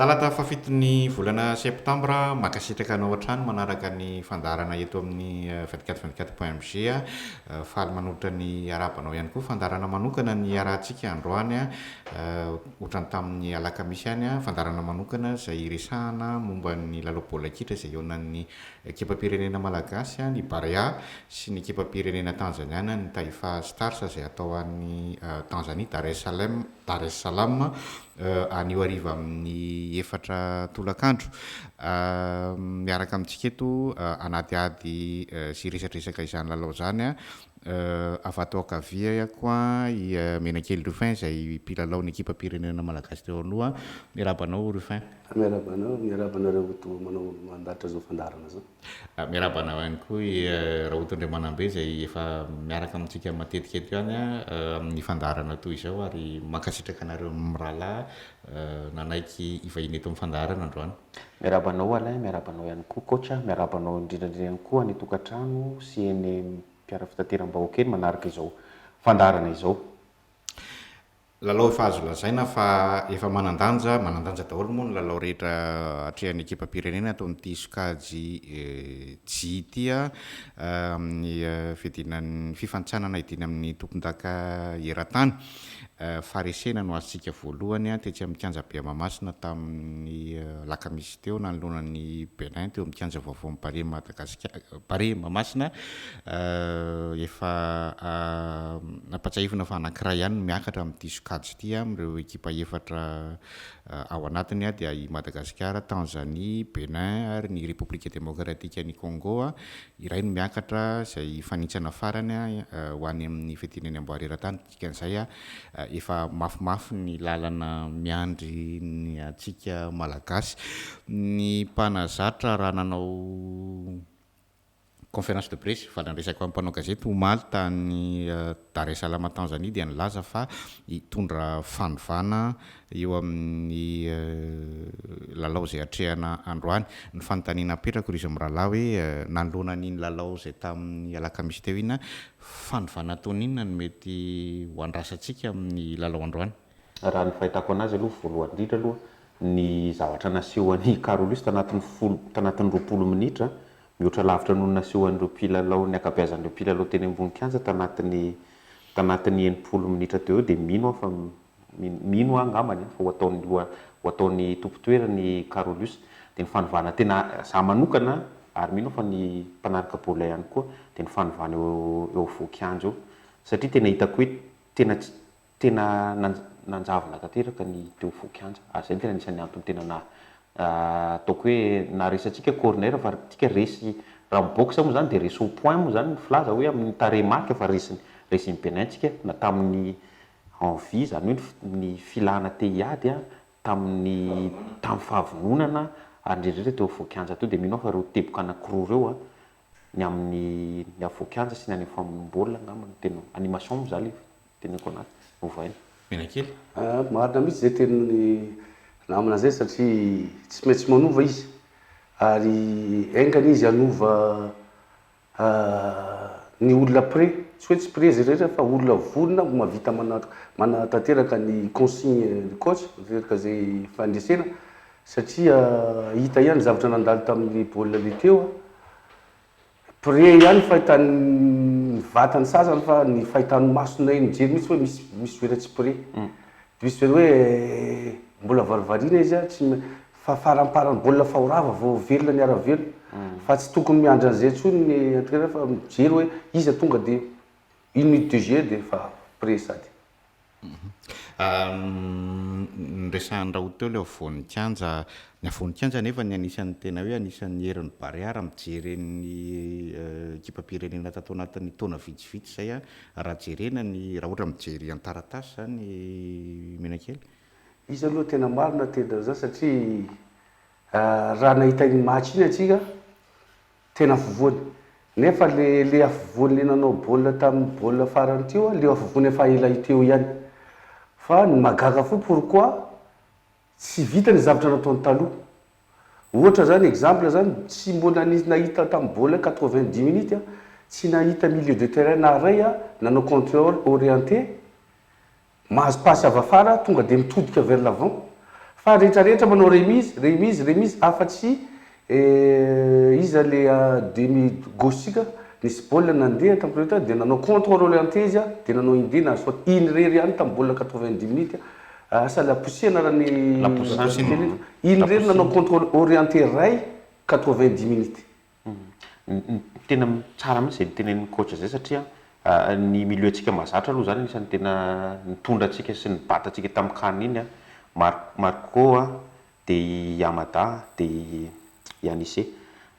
Talata fahafito ny volana septambra, mankasitraka anao hatrany manaraka ny fandaharana eto amin'ny vingt quatre vingt quatre point mg a, faly manolotra ny harabanao ihany koa, fandaharana manokana ny hiarahantsika androany a, otrany tamin'ny alakamisy ihany a, fandaharana manokana izay hiresahana momba ny lalao baolina kitra izay hihaonan'ny ekipam-pirenena malagasy a, ny Barea sy ny ekipam-pirenena tanzaniana ny Taifa Stars izay hatao any Tanzania, Dar es Salem, Dar es Salam. anio hariva amin'ny efatra tolakandro. Miaraka amintsika eto hanadihady sy hiresadresaka izany lalao izany avy ato ankavia ko i Menakely Rufin izay mpilalao ny ekipam-pirenena malagasy teo aloha. Miarahaba anao Rufin. Miarahaba anao, miarahaba anareo toa manao mandahatra izao fandaharana izao. Miarahaba anao ihany koa i Rahoto Andriamanambe izay efa miaraka amintsika matetika eto ihany amin'ny fandaharana toy izao ary mankasitraka anareo mirahalahy nanaiky hivahiny eto amin'ny fandaharana androany. Miarahaba anao Alain, miarahaba anao ihany koa Coach, miarahaba anao indrindra indrindra ihany koa ny tokantrano sy ny mpiara fitateram-bahoaka eny manaraka izao fandaharana izao. Lalao efa azo lazaina fa efa manan-danja, manan-danja daholo moa ny lalao rehetra atrehan'ny ekipam-pirenena ato amin'ity sokajy G ity amin'ny fiadianan'ny fifantsanana hidina amin'ny tompondaka eran-tany. Faharesena no azontsika voalohany tetsy amin'ny kianja Beamahamasina tamin'ny alakamisy. teo nanoloana ny Bénin teo amin'ny kianja vaovaon'ny Barea Madagasikara, Barea Mahamasina, efa nampatsiahivina fa anankiray ihany no miakatra amin'ity sokajy ity amin'ireo ekipa efatra ao anatiny dia i Madagasikara, Tanzanie, Bénin ary ny Repoblika Demokratikan'i Congo, iray no miakatra izay hifanintsana farany ho any amin'ny fidinan'ny amboara eran-tany. Dikan'izay, efa mafimafy ny lalana miandry ny antsika Malagasy. Ny mpanazatra raha nanao conférence de presse, valan-dresaka ho an'ny mpanao gazety, omaly tany Dar es Salaam Tanzanie dia nilaza fa hitondra fanovana eo amin'ny lalao izay atrehana androany. Ny fanontaniana apetrako ry izy mirahalahy hoe nanoloana an'iny lalao izay tamin'ny alakamisy teo iny, Fanovana toa n'inona no mety ho andrasantsika amin'ny lalao androany? Raha ny fahitako anazy aloha voalohany indrindra aloha ny zavatra nasehon'ny Carolus tanatin'ny folo tanatin'ny roapolo minitra mihoatra lavitra noho ny nasehon'ireo mpilalao ny ankabeazan'ireo mpilalao teny ambony kianja tanatin'ny tanatin'ny enimpolo minitra teo eo dia mino aho fa mino aho angambany an, fa ho ataon'ny loha, ho ataon'ny tompon-toeran'i Carolus. Dia ny fanovana tena, za manokana an, ary mino aho fa ny mpanaraka baolina ihany koa, dia ny fanovana eo eo afovoan-kianja eo. Satria tena hitako hoe tena tsy, tena nanja, nanjavona tanteraka ny teo afovoan-kianja. Ary izay no tena anisan'ny antony tena na, ataoko hoe naharesantsika corner fa ry tika resy, raha amin'ny box moa izany dia resy au point moa izany ny filaza hoe amin'ny tarehimarika fa resin'i, resin'i Bénin tsika na tamin'ny envie, izany hoe ny filana te hiady an, tamin'ny tamin'ny fahavononana ary indrindra indrindra teo amin'ny voan-kianja teo dia mino aho fa ireo teboka anankiroa ireo an, ny amin'ny ny avy voan-kianja sy ny any amin'ny famonoam-baolina angamba no tena animation moa izany ilay teneniko anazy no ovaina. Menakely. Marina mihitsy izay tenin'ny namana izay satria tsy maintsy manova izy ary enga anie izy hanova Ahh ny olona pré, tsy hoe tsy pré izy rehetra fa olona vonona ho mahavita manatanteraka ny consigne ny coach rehetra izay fandresena satria hita ihany zavatra nandalo tamin'ilay baolina ilay teo an, pré ihany fahitan'ny vatany sasany fa ny fahitan'ny masonay mijery mihintsy hoe misy misy joueur tsy pré, dia misy joueur hoe mbola varivarina izy an, Fa faramparan'ny baolina fa ho rava vao ho velona ny Aravelo. Fa tsy tokony miandry an'izay intsony ny entraîneur fa mijery hoe iza tonga dia une minute de jeu dia efa prêt sady. Noresahan-dRaoty teo ilay afovoan'ny kianja. Ny afovoan'ny kianja anefa ny anisan'ny tena hoe anisan'ny herin'ny Barea raha mijery an'ny ekipam-pirenena tato anatin'ny taona vitsivitsy izay raha jerena ny, raha ohatra mijery an-taratasy izany Menakely. Izy aloha tena marina tendr zany satria raha nahita iny match iny atsika tena afovoany nefa le le afovoany nanao baolina tamin'ny baolina farany teo le afovoany efa ela teo ihany fa ny mahagaga fo pourquoi tsy vita ny zavatra nataony taloha ohatra zany exemple zany tsy mbola nisy nahita tamin'ny baolina quatre vingt dix minutes aho tsy nahita milieu de terrain naharay aho nanao contre or- orienté Mahazo passe avy afara tonga dia mitodika vers l'avant fa rehetra rehetra manao remise, remise, remise afa tsy eh, iza le demi gauche tsika nisy baolina nandeha tam rehetra dia nanao contre orienté izy dia nanao inde nahazo faute iny rery ihany tam baolina quatre-vingt dix minutes asa la poussena ra ny Lapoussin, iny rery nanao contre orienté ray quatre-vingt dix minutes. Tena tsara mihitsy izay notenenin'i coach izay satria ny milieu antsika mahazatra aloha izany anisan'ny tena nitondra antsika sy nibata antsika tamin'ny can iny an, Marco an, dia i Hamada an, dia i Yanise.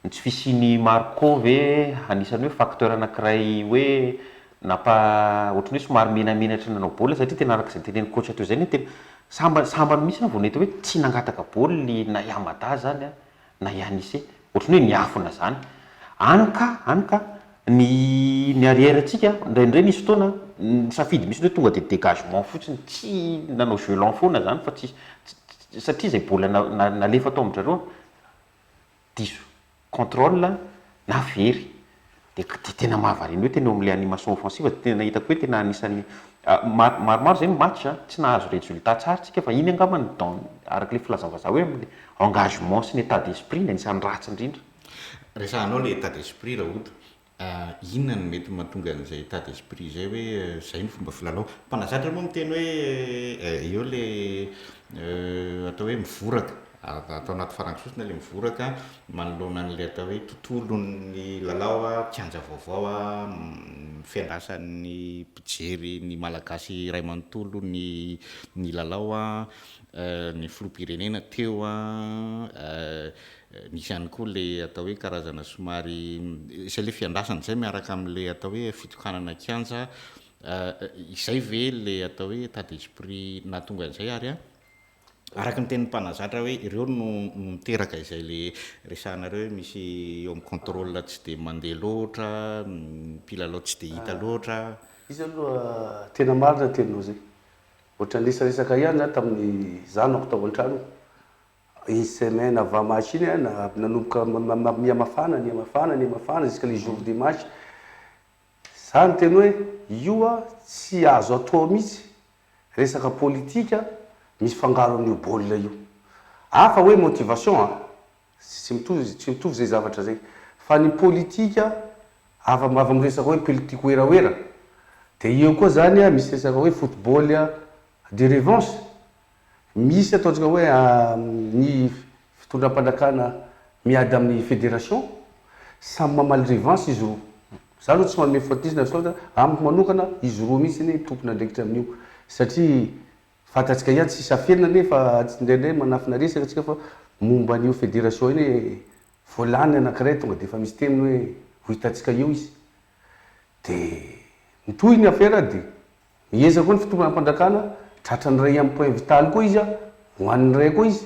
Ny tsy fisian'i Marco ve anisan'ny hoe facteur anankiray hoe nampa ohatran'ny hoe somary menamenatra ny nanao baolina satria tena araka izay notenenin'i coach teo izay ny tena sambany sambany mihitsy aho vao nahita hoe tsy nangataka baolina na i Hamada izany an, na i Anise, ohatran'ny hoe niafina zany. Any ka, any ka, ny ny arrière-ntsika, indraindray misy fotoana, nisafidy mihitsy ny hoe tonga dia dégagement fotsiny, tsy nanao jeu lent foana zany fa tsy tsy satria izay bola na nalefa tao amin-dry zareo, diso contrôle na very. Dia dia tena mahavariana hoe tena eo amin'ilay animation offensive dia tena hitako hoe tena anisan'ny maro maromaro izay ny match tsy nahazo résultat tsara tsika fa iny angamba no dans araka ilay filazan'ny vazaha hoe amin'ny engagement sy ny état d'esprit no anisan'ny ratsy indrindra. Resahanao ilay état d'esprit Rahoto, inona no mety mahatonga an'izay état d'esprit izay hoe izay no fomba filalao? Mpanazatra moa miteny hoe eo ilay atao hoe mivoraka. Ary ato anaty farango fotsiny ilay mivoraka manoloana an'ilay atao hoe tontolon'ny lalao kianja vaovao fiandrasan'ny mpijery ny Malagasy iray manontolo ny ny lalao ny filoham-pirenena teo nisy ihany koa ilay atao hoe karazana somary izay ilay fiandrasana izay miaraka amin'ilay atao hoe fitokanana kianja izay ve ilay atao hoe état d'esprit nahatonga an'izay ary an araka ny tenin'ny mpanazatra hoe ireo no no miteraka izay le resahanareo hoe misy eo amin'ny contrôle tsy dia mandeha loatra, ny mpilalao tsy dia hita loatra. Izy aloha tena marina ny teninao zay. Ohatrany niresaresaka ihany za tamin'ny zanako tao an-trano, une semaine avant match iny a, na- nanomboka mihamafana, nihamafana, nihamafana jusqu'à le jour du match. Za niteny hoe io a tsy azo atao mihitsy Resaka politika misy fangaro amin'io baolina io. Hafa hoe motivation a! Tsy mitovy tsy mitovy zay zavatra zay. Fa ny politika avy avy amin'ny resaka hoe politique werawera. Dia eo koa zany misy resaka hoe football de revanche. Misy ataontsika hoe ny Fitondram-panjakana miady amin'ny federation, samy mamaly revanche izy roa. Za aloha tsy manome fautisme na misaotra, amiko manokana izy roa mihitsy anie tompon'andraikitra amin'io satria fantatsika ihany, tsy safirina anie fa indraindray manafina resaka tsika fa momba an'io federation io hoe voalany ny anankiray tonga dia efa misy teny hoe ho hitantsika eo izy dia mitohy ny afera dia. Miezaka koa ny fitondram-pandrakana tratra ny ray amin'ny point vital koa izy an, ho an'ny ray koa izy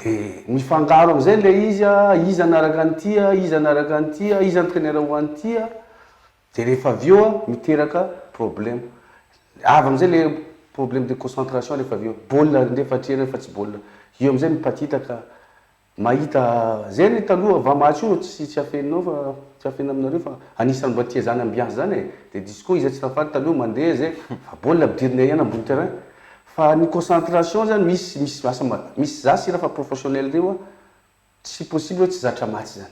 de mifangaro amin'izay ilay izy an, iza hanaraka an'ity an, iza hanaraka an'ity an, iza entrainera ho an'ity an, de rehefa avy eo an miteraka problème, avy amin'izay ilay problème de concentration rehefa avy eo, baolina ndray fatrera io fa tsy baolina, eo amin'izay mipatitaka. Mahita zay ny taloha va maty io tsy tsy afeninao fa tsy afenina aminareo fa anisany mba tia zany ambiance zany e de disco izay tsy tafaty taloha mande zay fa baolina ampidirina iany ambony terrain fa ny concentration zany misy misy asa misy za sira fa professionel reo a tsy possible oe tsy zatra maty zany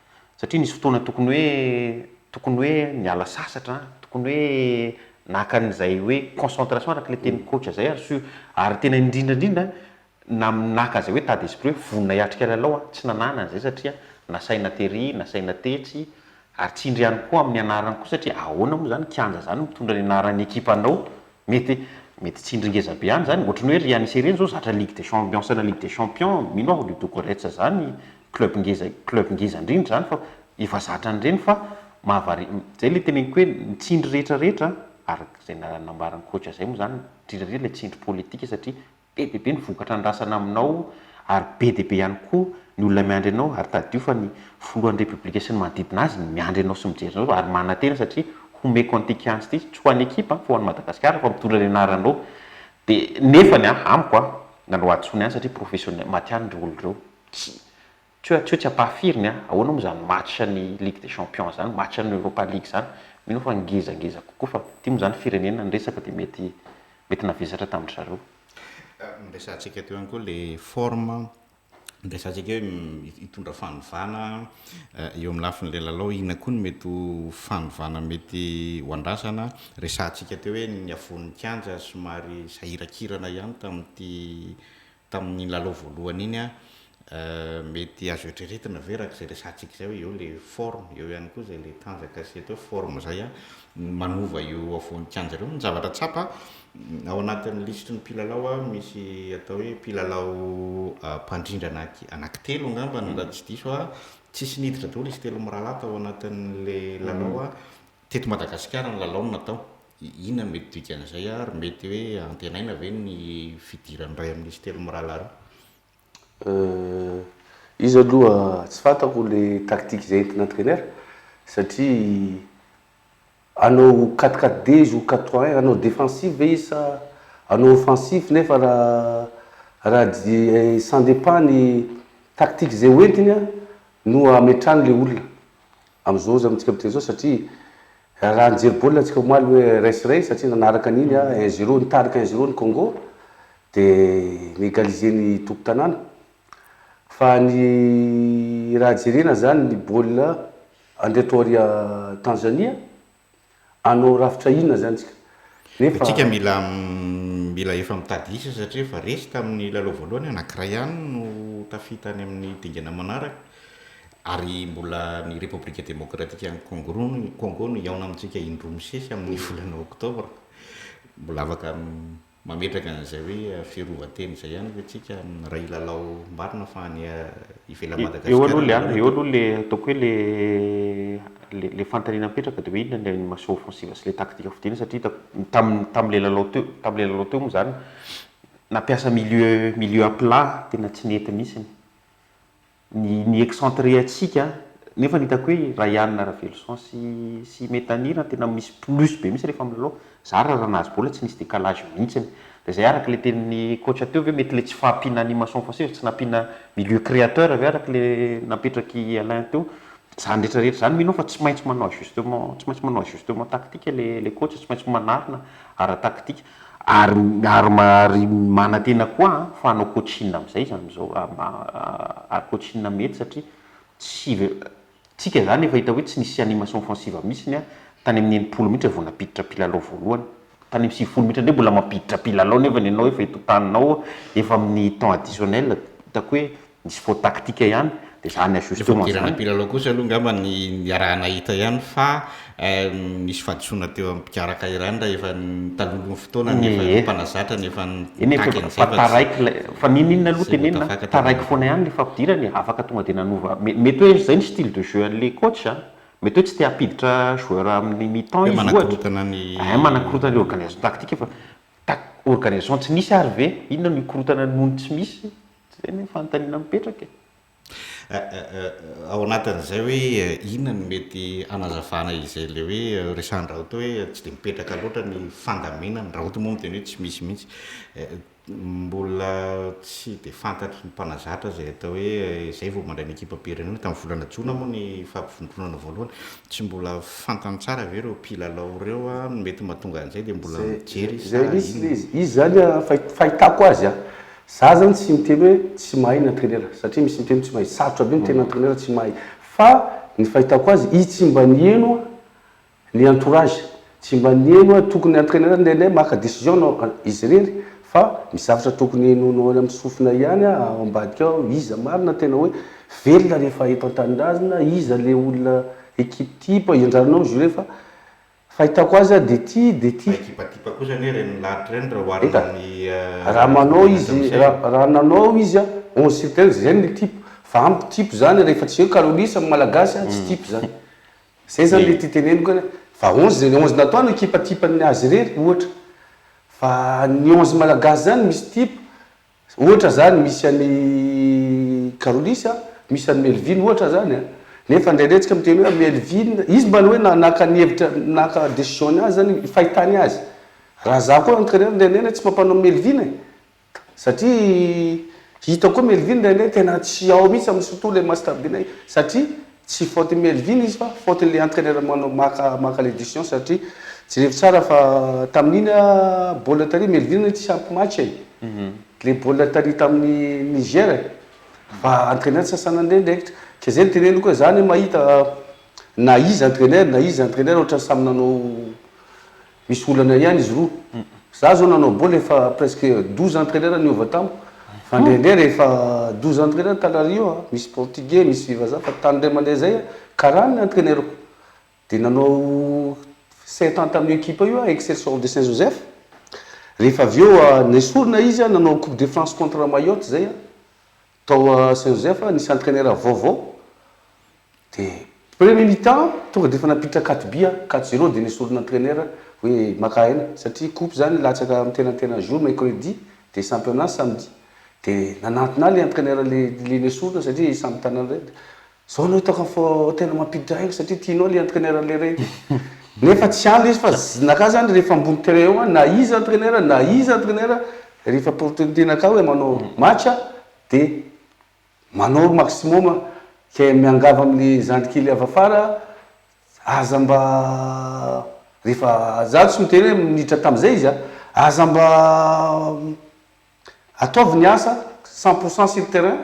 satria nisy fotoana tokony hoe tokony hoe niala sasatra an, tokony hoe naka an'izay hoe concentration araka ilay tenin'i coach izay aho sur ary tena indrindra indrindra na naka an'izay hoe état d'esprit hoe vonona hiatrika lalao aho, tsy nanana an'izay satria nasaina tery, nasaina tetsy, ary tsy indry ihany koa amin'ny anarany koa satria ahoana moa izany kianja izany mitondra ny anaran'ny ekipanao Mety mety tsindry ngeza be any zany, ohatry ny hoe ry an'ise ireny zao zatra ligue des champions na ligue des champions, mino aho Ludogorets zany club ngeza club ngeza ndrindra zany fa efa zatra an'ireny fa mahavarian izay le teneniko hoe ny tsindry rehetra rehetra arak'izay nambaran'i coach zay moa zany indrindra indrindra le tsindry politika satria Be dia be ny vokatra andrasana aminao ary be dia be ihany koa ny olona miandry anao ary tadidio fa ny filohan'ny Repoblika sy ny manodidina azy no miandry anao sy mijery anao ary manantena satria homeko an'ity kianja ity, tsy ho an'ny ekipa an, fa ho an'i Madagasikara fa mitondra ny anaranao dia nefany an, amiko an, nanao ady soa ny any satria professionnel, matihanina ireo olona ireo, tsy. Tjo tjo tsy ampahafiriny a! Ahoana moa izany match ny Ligue des Champions izany, match ny Europa League izany? Mino aho fa ngeza ngeza kokoa fa ity moa izany firenena ny resaka dia mety mety navesatra tamin-dry zareo. Noresahantsika teo ihany koa ilay forme, noresahantsika hoe hitondra fanovana eo amin'ny lafin'ilay lalao, inona koa no mety ho fanovana mety ho andrasana. Resahantsika teo hoe ny havoan'ny kianja somary sahirakirana ihany tamin'ity tamin'iny lalao voalohany iny an, mety azo eritreretina ve araka izay resahantsika izay hoe eo ilay forme, eo ihany koa izay ilay tanjaka sy atao hoe forme izay an, ny manova eo afovoan'ny kianja eo. Ny zavatra tsapa ao anatin'ny lisitry ny mpilalao an, misy atao hoe mpilalao mpandrindra anaky anankitelo angamba raha tsy diso an, tsisy niditra daholo izy telo mirahalahy tao anatin'ilay lalao an, Teto Madagasikara ny lalao no natao. Inona no mety dikan'izay ary mety hoe antenaina ve ny fidiran'ny iray amin'ny lisitry ny mirahalahy roa? Euh, izy aloha tsy fantako le tactique izay entina entraineur satria hanao quatre quatre deux izy ou quatre trois un, hanao defensive ve izy sa hanao offensive nefa raha raha di- ça depend ny tactique izay hoentiny an no ametrahany le olona. Amin'izao izy amintsika miteny izao satria raha nijery baolina tsika omaly hoe res ray satria nanaraka an'iny a un zero nitarika un zero ny Congo de ni égaliser ny tompon-tanàna fa ny raha jerena zany ny baolina andreto aorian'i Tanzania Hanao rafitra inona izany isika? Nefa. Antsika mila mila efa mitady isa satria efa resy tamin'ny lalao voalohany, anankiray ihany no tafita any amin'ny dingana manaraka ary mbola ny Repoblika Demokratikan'i Kôngo Kôngo no hihaona amintsika indroa misesy amin'ny volana oktobra. Mbola afaka Mametraka an'izay hoe fiarovan-tena izay ihany ve tsika raha hilalao marina fa any ivelan'i Madagasikara? Eo aloha ilay an, eo aloha ilay ataoko hoe ilay ilay fanontaniana mipetraka dia hoe inona ny amin'ny maso offensive sy ilay tactique fidiana satria hitako tamin'ny tamin'ilay lalao teo tamin'ilay lalao teo moa izany nampiasa milieu milieu à plat tena tsy nety mihitsy. ny ny excentré antsika nefa ny hitako hoe Ryan Raveloson sy sy Metanie raha ny tena misy plus be mihitsy rehefa milalao, za raha raha nahazo baolina tsy nisy décalage mihitsiny, de zay araka le tenin'ny coach teo ve mety le tsy fahampiana animation offensive tsy nampiana milieu créateur ve araka le napetrak'i Alain teo, zany rehetra rehetra zany mino aho fa tsy maintsy manao ajustement tsy maintsy manao ajustement tactique le le coach tsy maintsy manarina ara-tactique. Ary ary mari manantena koa an fa hanao coach in amizay zany amizao ary coach in mety satria tsy tsika zany efa hita hoe tsy nisy animation offensive mihitsiny an tany aminy enimpolo minitra vao nampiditra mpilalao voalohany tany aminy sivifolo minitra ndray mbola mampiditra mpilalao nefany ianao efa itotaninao efa aminy temps additionnel hitako hoe Misy faute tactique ihany dia za ny ajustement zany. Ny fidirana mpilalao kosa aloha angamba ny niaraha-nahita ihany fa nisy fahadisoana teo amin'ny mpikaraka iray ny raha efa nitaloloha ny fotoana ny efa mpanazatra ny efa nitaky ny zavatra. Fa taraiky ilay, fa n'inon'inona aloha tenenina, taraiky foana ihany ilay fampidirana e, afaka tonga dia nanova, mety hoe izay ny style de jeu an'ilay coach a, mety hoe tsy te hampiditra joueur amin'ny mi temps izy ohatra, manakorontana ny, hay manakorontana ilay organisation tactique fa, organisation tsy nisy ary ve, inona no hikorontana noho ny tsy misy? Tsy izay anie ny fanontaniana mipetraka e! Ao anatin'izay hoe inona no mety hanazavana izay ilay hoe resahan'i Raoty hoe tsy dia mipetraka loatra ny fandaminana, Raoty moa miteny hoe tsy misy mihitsy. Mbola tsy dia fantatry ny mpanazatra izay atao hoe izay vao mandray ny ekipam-pirenena, tamin'ny volana jona moa ny fampivondronana voalohany. Tsy mbola fantany tsara ve ireo mpilalao ireo no mety mahatonga an'izay dia mbola mijery sa inona? Izay misy ilay izy. Izy izany fahitako azy Za zany tsy miteny hoe tsy mahay ny entraineur satria misy miteny tsy mahay, sarotra be miteny entraineur tsy mahay fa ny fahitako azy izy tsy mba niheno ny entourage, tsy mba niheno hoe tokony entraineur indraindray maka decision anao izy irery fa misy zavatra tokony henoinao any amin'ny sofina ihany ao ambadika ao iza marina tena hoe velona rehefa eto an-tanindrazana, iza le olona équipe type, enjarinao jurer fa Fahitako azy a, de ty, de ty. Fa hikipatipa kosa anie reny lalitra ireny raha oharina amin'ny Menatra Michel. Raha nanao izy a, on certains, zay no type. Fa amiko type zany rehefa tsy eo Carolus amin'ny Malagasy a, tsy type zany. Zay zany le ty teneniko anie. Fa on ze on ze natao no hikipatipan'ny azy irery, ohatra. Fa ny on ze Malagasy zany misy type. Ohatra zany misy an'i Carolus a, misy an'i Melvin ohatra zany a, nefa indraindray tsika miteny hoe Melvin, izy mba hoe naka ny hevitra, naka décision-ny azy zany, fahitany azy. Raha za koa en carrière indraindray ne tsy mampanao Melvin e, satria hitako hoe Melvin indraindray tena tsy ao mihitsy amin'ny surtout le maha stabile satria. Tsy faute ny Melvin izy fa faute le entraineur manao maka maka le decision satria jerevo tsara fa tamin'iny a baolina tary Melvin anie tsisy ampy match e, le baolina tary tamin'ny Niger e, fa entraineur tsy sasana ndraindraikitra, ke zay ny teneniko hoe za anie mahita na iza entraineur na iza entraineur ohatrany samy nanao. Misy olana ihany izy roa. Za zao nanao bol efa presque douze entraineur niova tamiko fa ndre ndre rehefa douze entraineur tana Rio a, misy portugais, misy vazaha fa tany ray aman-dreny zay a, karany ny entraineur-ko. De nanao sept ans tamin'io ekipa io a, Excelsior de Saint Joseph. Rehefa avy eo a, nesorina izy a, nanao coupe de France contre Mayotte zay a, Tao Saint Joseph, nisy antenera vaovao dia premier mi-temps tonga dia efa nampiditra quatre buts aho, quatre zero dia nesorina antenera hoe maka aina satria coupe izany latsaka mitenantena jour mercredi dia championnat samedi dia nanantona ahy ilay antenera ilay nesorina satria samy tanana ireny, Zao anao hitako fa tena mampiditra haingo satria tianao ilay entraîneur Lere ity. Nefa tsy any ilay izy fa nakà zany rehefa ambony terrain eo an, na iza entraîneur na iza entraîneur rehefa opportunité nakà hoe manao match de manao maximum kay miangavy amin'ny zandrikely avy afara aza mba rehefa za tsy miteny hoe minitra tam'zay izy an, aza mba. Ataovy ny asa cent pour cent sur terrain,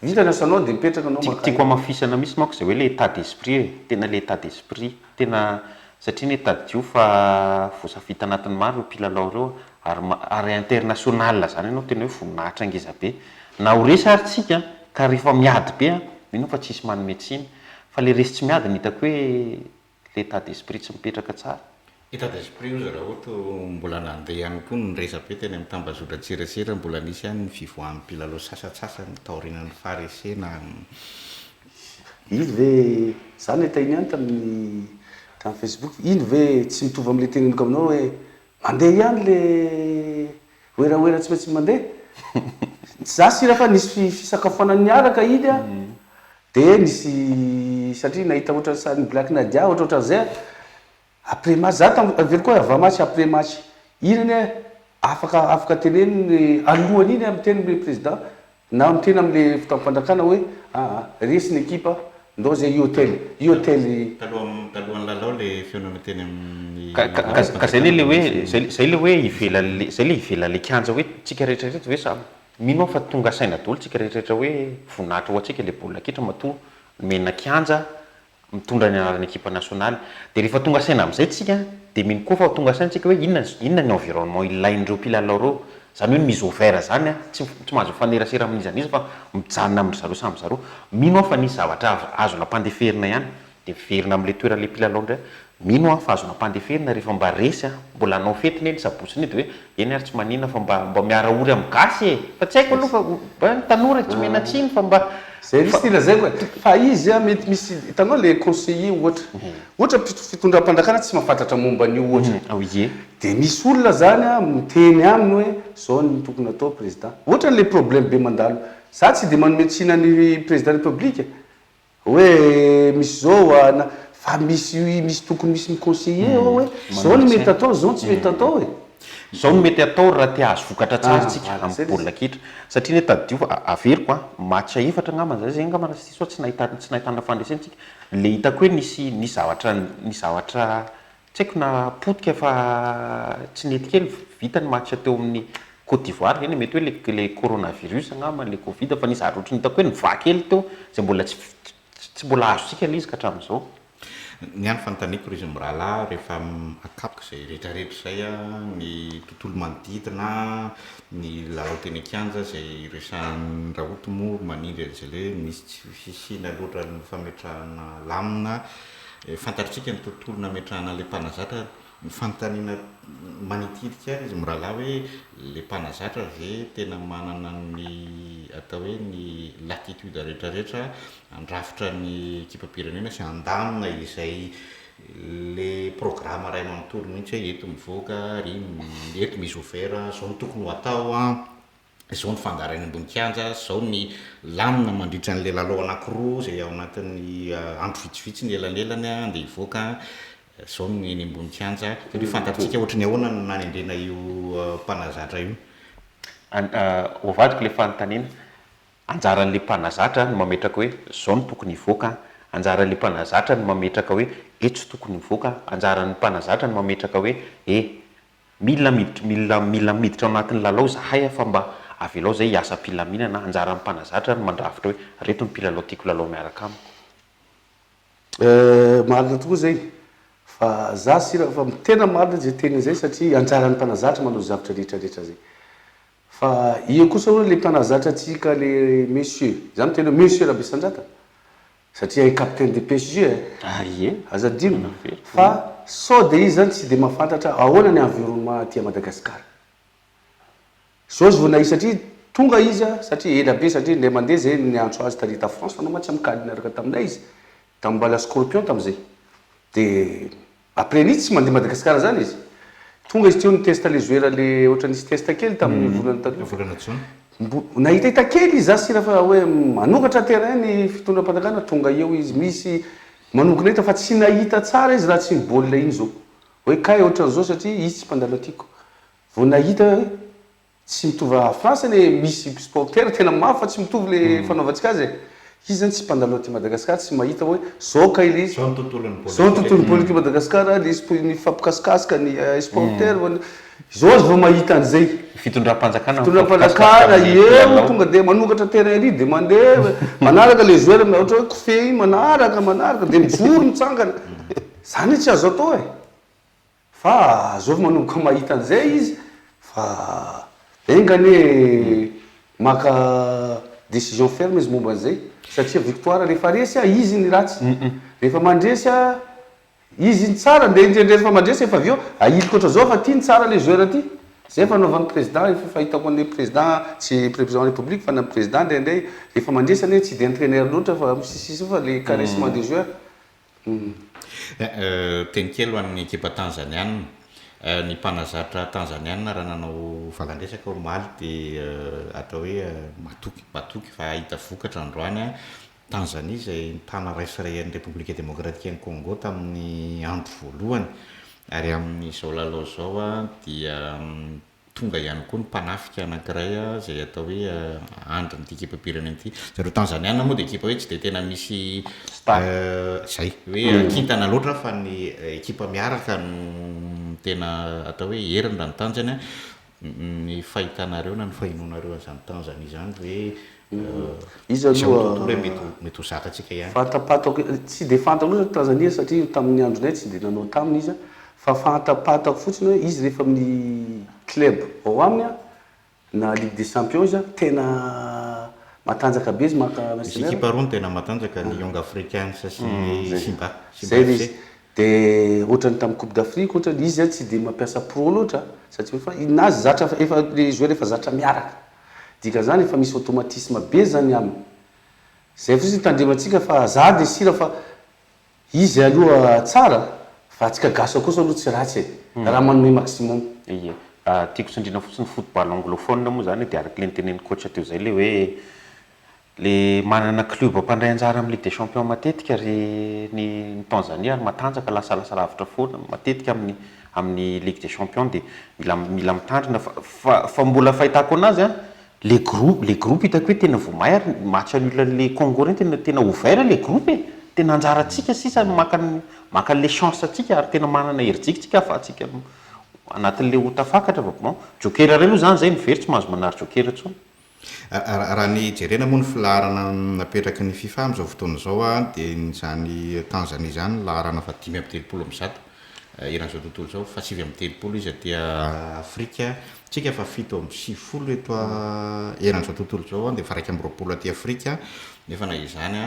vita ny asanao dia mipetraka anao maka aina. Tiako hamafisana mihitsy manko izay hoe ilay état d'esprit e, tena ilay état d'esprit, tena satria anie tadidio fa voasafidy tanatin'ny maro ireo mpilalao ireo ary ma- ary international izany ianao tena hoe voninahitra ngeza be, na ho resy ary tsika ka rehefa miady be an, mino aho fa tsisy manome tsiny, fa ilay resy tsy miady no hitako hoe l'état d'esprit tsy mipetraka tsara. État d'esprit ozy raha oto mbola nandeha ihany koa ny resabe teny amin'ny tambazotran-tserasera mbola nisy ihany ny fivoahan'ny mpilalao sasatsasany taorinan'ny faharesena ny. Iny ve, za nahita iny ihany tamin'ny tamin'ny facebook, iny ve tsy mitovy amin'ilay teneniko aminao hoe mandeha ihany le werawera tsy maintsy mandeha? Za sy Rafa nisy fisakafoanana niaraka iny an, Dia nisy satria nahita ohatran'ny sarin'i Black Nadia ohatraohatran'izay aho. Après match, za tam, averiko hoe avant match, après match. Iny anie afaka afaka teneniny alohan'iny a miteny le président na miteny am'le fotoam-pandrakana hoe aa resy ny ekipa ndao zay hihotel, hihotel i. Taloha, talohan'ny lalao le fihaonana teny amin'ny Ka, ka, ka, ka zay le le hoe, zay, zay le hoe ivelan'le, zay le ivelan'le kianja hoe tsika rehetra ireto ve sa. Mino aho fa tonga saina daholo tsika rehetrarehetra hoe voninahitra ho antsika ilay baolina kitra matoa nomena kianja mitondra ny anaran'ny ekipa nasionaly. Dia rehefa tonga saina amin'izay tsika dia mino koa fa ho tonga saina tsika hoe inona ny inona ny environnement ilain'ireo mpilalao ireo. Izany hoe mise au vert izany tsy tsy mahazo mifanerasera amin'iza n'iza fa mijanona amin-dry zareo samy zareo. Mino aho fa nisy zavatra azo azo nampandeferina ihany Dia miverina amin'ilay toeran'ilay mpilalao indray aho. Mino aho fa azo nampandeferina rehefa mba resy aho. Mbola hanao fety anie ny sabotsy iny dia hoe, eny ary tsy maninona fa mba mba miara ory amin'ny gasy e! Fa tsy haiko aloha fa hoe ny tanora e! Tsy menatsiny fa mba. Zay mihitsy ty lazaiko e! Fa izy an, mety misy, hitanao le conseiller ohatra, ohatra mpitro fitondram-panjakana tsy mahafantratra momba an'io ohatra, dia misy olona zany an miteny aminy hoe zao no tokony atao président. Ohatra le problème be mandalo. Za tsy dia manome tsiny an'i président république. Hoe misy izao oa na fa misy misy tokony misy mi-conseiller ao hoe izao no mety atao, izao no tsy mety atao e. Izao no mety atao raha te hahazo vokatra tsara isika amin'ny baolina kitra. Satria anie tadidio fa averiko an, match efatra angamba izay, izay angamba no sisa tsy nahitana tsy nahitana fandresena isika. Ilay hitako hoe nisy nisy zavatra nisy zavatra Tsy haiko na potika fa tsy nety kely vita ny match teo amin'ny Côte d'Ivoire ve? Mety hoe ilay coronavirus angamba ilay covid fa nisy zary ohatran'ny hitako hoe nivaha kely teo izay mbola tsy mbola azontsika ilay izy ka hatramin'izao. Ny ahy ny fanontaniako ry izy mirahalahy rehefa akapoka izay retraretra izay ny tontolo manodidina ny lalao teny an-kianja izay resahan'i Rahoto moa manindry an'izay hoe misy tsy fisiana loatra ny fametrahana lamina Fantatritsika ny tontolo nametrahana ilay mpanazatra, ny fanontaniana manitirika ary izy mirahalahy hoe ilay mpanazatra ve tena manana ny atao hoe ny latitude rehetra rehetra handrafitra ny ekipam-pirenena sy handamina izay ilay programa iray manontolo mihitsy hoe eto mivoaka ary eto misy ouvert, izao no tokony ho atao an! Izao ny fandaharan'Ambohinkanja, izao ny lamina mandritra an'ilay lalao anankiroa izay ao anatin'ny andro vitsivitsy ny elanelany andeha hivoaka an! Izao ny eny Ambohinkanja, tokony fantatsika ohatry ny ahoana no nanendrena io mpanazatra io. Ho avadiko ilay fanontaniana, anjaran'ilay mpanazatra ny mametraka hoe izao no tokony hivoaka an! Anjaran'ilay mpanazatra ny mametraka hoe eto tsy tokony mivoaka an! Anjaran'ny mpanazatra ny mametraka hoe e! Mila miditra mila mila miditra ao anatin'ny lalao zahay a fa mba avelao zay hiasa am-pilaminana, anjaran'ny mpanazatra ny mandrafitra hoe reto ny mpilalao tiako lalao miaraka amiko. Euh marina tokoa zay fa za sy ra fa tena marina zay teniny zay satria anjaran'ny mpanazatra manao zay zavatra rehetra rehetra zay fa eo kosa oa le mpanazatra tsika le monsieur za miteny oe monsieur Rabesandrata Satria i capitaine de PSG eh. Ah ie. Aza adino fa sao dia izy izany tsy dia mahafantratra ahoana ny environnement aty à Madagascar. Zao izy vao nahia satria tonga izy a, satria ela be satria indray mandeha zay niantso azy tany ta France, anao mantsy amkady niaraka taminay izy, tam bala scorpion tam zay. Dia. Après nice tsy mandeha Madagascar zany izy. Tonga izy teo ny test le jour le ohatra nisy test kely tamin'ny volana taloha. Volana jona. Mbo nahitaita kely izy za sy Rafa hoe manokatra terrain ny fitondram-panjakana tonga eo izy misy manomboka nahita fa tsy nahita tsara izy raha tsy iny baolina iny zao hoe kay ohatran'izao satria izy tsy mpandalo aty ko. Vao nahita hoe Tsy mitovy a France le misy supporter tena mafy fa tsy mitovy le fanaovantsika azy e. Izy zany tsy mpandalao aty Madagascar tsy mahita oe zao kay le izy fa zao ny tontolon'ny politika aty Madagascar le izy poy mifampikasikasika ny supporter fa zao izy vao mahita an'izay. Fitondram-panjakana mifampikasikasika amin'ny mpilalao. Fitondram-panjakana eo tonga de manokatra terrain ery de mandeha manaraka le joueur ohatra hoe kofehy manaraka manaraka de mijoro mitsangana. Zany tsy azo atao e. Fa zao vao manomboka mahita an'izay izy fa enga anie maka décision ferme izy momba an'izay satria victoire rehefa resy ah izy ny ratsy, rehefa mandresy ah izy ny tsara dia indrindra indrindra rehefa mandresy efa avy eo ahilika ohatra zao fa ty ny tsara le joueur ty, zay fanaovan'ny président efa fahitako an'ilay président tsy président république fa na ny président indraindray rehefa mandresy anie tsy dia entraîneur loatra fa misisisisy eo fa le caressement des joueurs. Teny kely ho an'ny ekipa Tanzaniana. Ny mpanazatra Tanzaniana raha nanao valan-dresaka omaly dia atao hoe matoky matoky fa hahita vokatra androany. Tanzania izay tana raifirahy an'i Repoblika Demokratikan'i Kôngô tamin'ny andro voalohany ary amin'izao lalao izao dia tonga ihany koa ny mpanafika anankiray izay atao hoe Andry amin'ity ekipam-pirenena ity. Zareo Tanzaniana moa dia ekipa hoe tsy dia tena misy izay hoe hmm. kintana loatra fa ny ekipa miaraka no tena atao hoe heriny raha ny tanjany ny fahitanareo na ny fahinoanareo an'izany tanjany izany hoe Iza aloha. Iza moa tompony hoe mety mety ho zakatsika ihany. Fantapatako tsy dia fantako loatra ny tanzanie a satria tamin'ny andronay tsy dia nanao taminy izy a fa fantapatako fotsiny hoe izy rehefa amin'ny club ao aminy a na ligue des champions izy a tena matanjaka be izy maka mercenaires. Misy ekipa roa no tena matanjaka ny young africans sy simba simba fc. Dia ohatrany tamin'ny coupe d'afrique ohatrany izy a tsy dia mampiasa pro loatra satria fa ninazy zatra efa les joueurs efa zatra miaraka. Dikan'izany efa misy automatisme be zany aminy. Zay fotsiny tandremantsika fa za de sira fa izy aloha tsara fa atsika gasy kosa aloha tsy ratsy e. Raha manome maximum. Ie. Tiako tsindriana fotsiny foot ballon anglophone moa zany de araka le nitenenin'i coach teo zay le hoe Le manana klioba mpandray anjara amin'ny Ligue des Champions matetika ry ny ny Tanzania ary matanjaka lasalasa lavitra foana matetika amin'ny amin'ny Ligue des Champions dia mila mila mitandrina fa fa fa mbola fahitako anazy an le groupe le groupe hitako hoe tena vao may ary match nul an'le Congo reny tena tena ouvert le groupe e! tena anjarantsika sisa ny maka ny maka an'le chance antsika ary tena manana herijika tsika ahafahantsika anatin'le ho tafakatra fa bon jokera ray aloha zany zay no very tsy mahazo manary jokera intsony. Raha ny jerena moa ny filaharana napetraky ny fifa amin'izao fotoana izao dia izany Tanzanie izany ny laharana faha dimy amby telopolo amby zato eran'izao tontolo izao, faha sivy amby telopolo izy aty Afrika, tsika faha fito amby sivifolo eto eran'izao tontolo izao dia faha iraika amby roapolo aty Afrika nefa na izany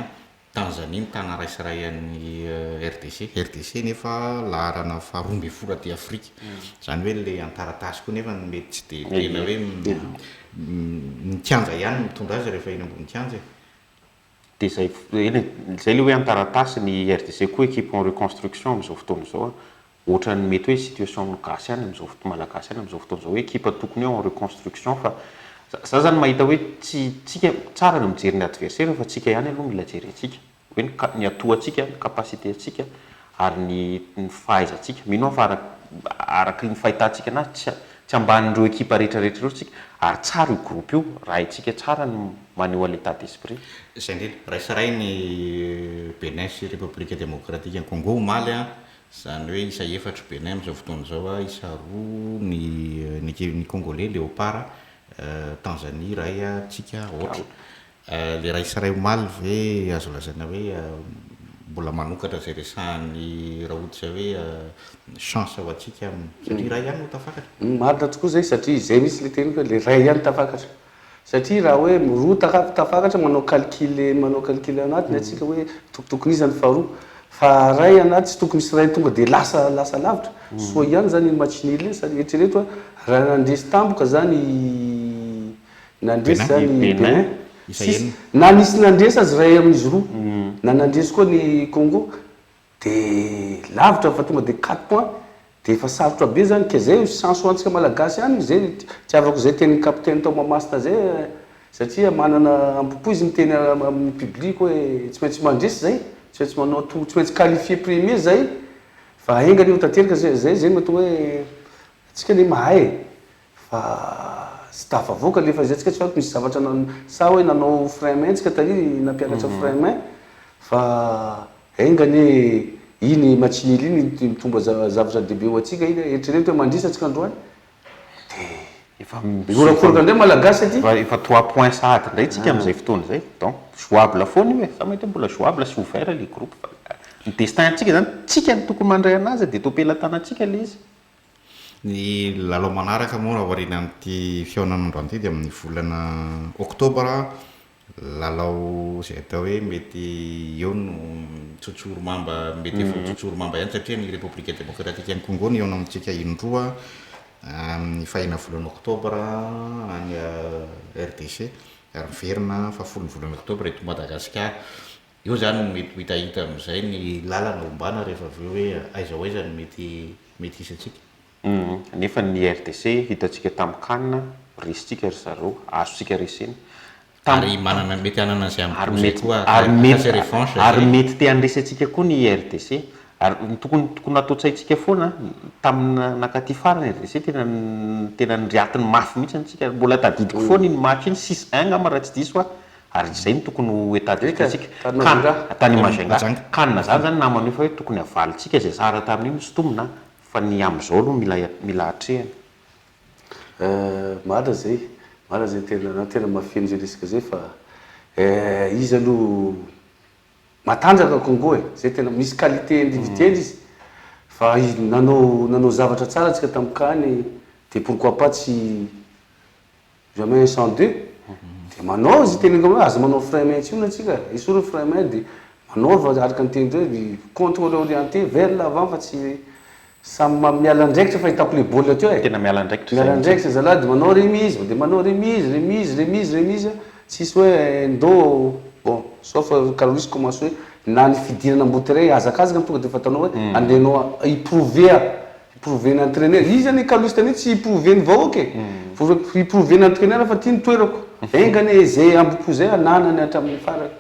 Tanzania ny tàna raisiraian'ny RDC. RDC nefa laharana faharoa ambin'ny folo aty Afrika. Izany hoe ilay an-taratasy koa nefa no mety tsy dia tena hoe ny kianja ihany no mitondra azy rehefa eny ambony kianja e. Dia izay, eny e, izay ilay hoe an-taratasy, ny RDC koa equipe en reconstruction amin'izao fotoana izao. Ohatran'ny mety hoe situation'ny gasy any amin'izao fotoana, malagasy any amin'izao fotoana izao hoe ekipa tokony hoe en reconstruction fa za za zany mahita hoe tsy tsika tsara ny mijery ny adversaire fa tsika ihany aloha mila jerentsika hoe ny ka- ny atoantsika, ny capacité antsika ary ny ny fahaizantsika. Mino aho fa arak- araky ny fahitantsika anazy tsy a- tsy ambanin'ireo ekipa rehetrarehetra ireo tsika ary tsara io groupe io raha haintsika tsara ny maneho an'i état d'esprit. Izay indrindra. Raisa ray ny Bénin sy République Démocratique en Congo omaly an, Izany hoe isa efatry Benin amin'izao fotoana izao a, isa roa ny ny ny Kongoley, Leopard, Tanzania iray a, antsika aotra. Le iray sy iray omaly ve azo lazaina hoe mbola manokatra izay resahan'i Raodia hoe chance ho antsika satria iray ihany no tafakatra? Marina tokoa izay satria izay mihitsy le teniko hoe le iray ihany tafakatra. Satria raha hoe mirotaka avy tafaratra manao calcule manao calcule ao anatiny atsika hoe toko tokony iza ny faharoa fa ray anaty tsy tokony misy ray tonga dia lasa lasa lavitra soa ihany zany iny matchin'ily iny sady eritrereto a raha nandresy tampoka zany i nandresy zany i Bénin sisa na nisy nandresy azy ray amin'izy roa na nandresy koa ny Congo De lavitra fa tonga de quatre points de efa sarotra be zany ka zay io chance ho antsika malagasy ihany io, zay itiavako zay tenin'ny capitaine tao Mahamasina zay satria manana ambopo izy miteny amin'ny public hoe tsy maintsy mandresy zay, tsy maintsy manao tour, tsy maintsy qualifier premier zay fa enga anie ho tanteraka zay, zay zay mahatonga hoe antsika anie mahay e. Fa tsy tafavoaka le fahaizantsika tsy fantatra misy zavatra na sa hoe nanao frein main tsika tary nampianatra frein main fa enga anie iny matchinily iny mitondra zavatra dehibe ho antsika iny eritrereto hoe mandrisa tsika androany de efa mihorakoraka ndray malagasy aty efa efa trois points sahady ndray tsika amzay fotoana zay donc jouable foana io e sa mahita hoe mbola jouable sy ouvert le groupe fa ny destin antsika zany tsika no tokony mandray anazy de to pelatanantsika le izy. Ny lalao manaraka moa aorianan'ity fihaonan'Andro Andia dia amin'ny volana oktobra, lalao izay atao hoe mety eo no tsotsorimamba, mety efa ho tsotsorimamba ihany satria ny Repoblika Demokratikan'i Congo no hihaona amintsika indroa amin'ny fahena volana oktobra any RDC ary miverina fahafolon'ny volana oktobra eto Madagasikara. Eo izany no mety ho hitahita amin'izay ny lalana hombana rehefa avy eo hoe aiza ho aiza no mety mety hisy antsika. Humm nefa ny RDC hitantsika tamin'ny can resintsika ry zareo, azontsika resena. Ary manana mety hanana an'izay amin'ny pro zay koa ka tsy revanche zay. Ary mety te handresy antsika koa ny RDC. Ary ny tokony tokony ato an-tsaintsika foana tamin'ny nankaty farany RDC tena tena niriatiny mafy mihitsy antsika. Mbola tadidiko foana iny match iny six un angamba raha tsy diso aho ary izay no tokony ho état d'esprit tsika, Can, tany Majunga, Can zany zany namana io fa hoe tokony havalitsika izay zara tamin'io no sintomina an, fa ny amin'izao aloha mila mila atrehina. Eh, marina zay, marina zay tena, na tena mahafeno zay resaka zay fa eh, izy aloha matanjaka Congo e, zay tena misy qualité individuelle izy, fa izy nanao nanao zavatra tsara tsika tamin'ny Can, dia pourquoi pas tsy. Jamais un sans deux, dia manao izy teny an-doha hoe aza manao frein main intsony antsika, esory ny frein main dia manaova araka ny teniny hoe controle orienté vers l'avant fa tsy samy ma- miala andraikitra fa hitako le baolina teo e! Tena miala andraikitra izay Miala mihitsy. andraikitra zalahy dia manao remise, dia manao remise, remise, remise, remise, tsisy hoe indo, bon, sauf Carolus commence hoe na ny fidirana am-boterey hazakazaka no tonga dia efa ataonao hoe andehanao hi-prouver Proven entraineur. Izy anie kaloista mihintsy tsy hi-prover ny vahoaka e. Proven hi-prover ny entraineur fa ty ny toerako. Enga anie e ze ambopo zay ananany hatramin'ny farany.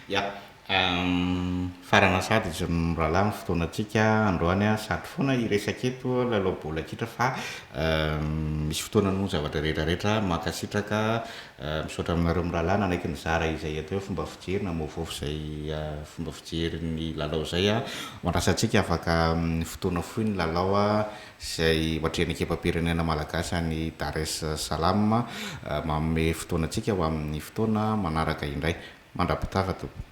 Ya, mifarana sahady izy mirahalahy ny fotoanantsika androany an, sahady foana hiresaka eto lalao baolina kitra fa misy fotoana noho ny zavatra rehetra rehetra, mankasitraka Misaotra aminareo mirahalahy nanaiky nizara izay atao hoe fomba fijery na movof izay fomba fijery ny lalao izay ho andrasantsika afaka amin'ny fotoana fohy ny lalao izay ohatrehan'ny ekipam-pirenena malagasy any Dar es Salaam manome fotoana antsika ho amin'ny fotoana manaraka indray. Mandra-pitàka tompoko.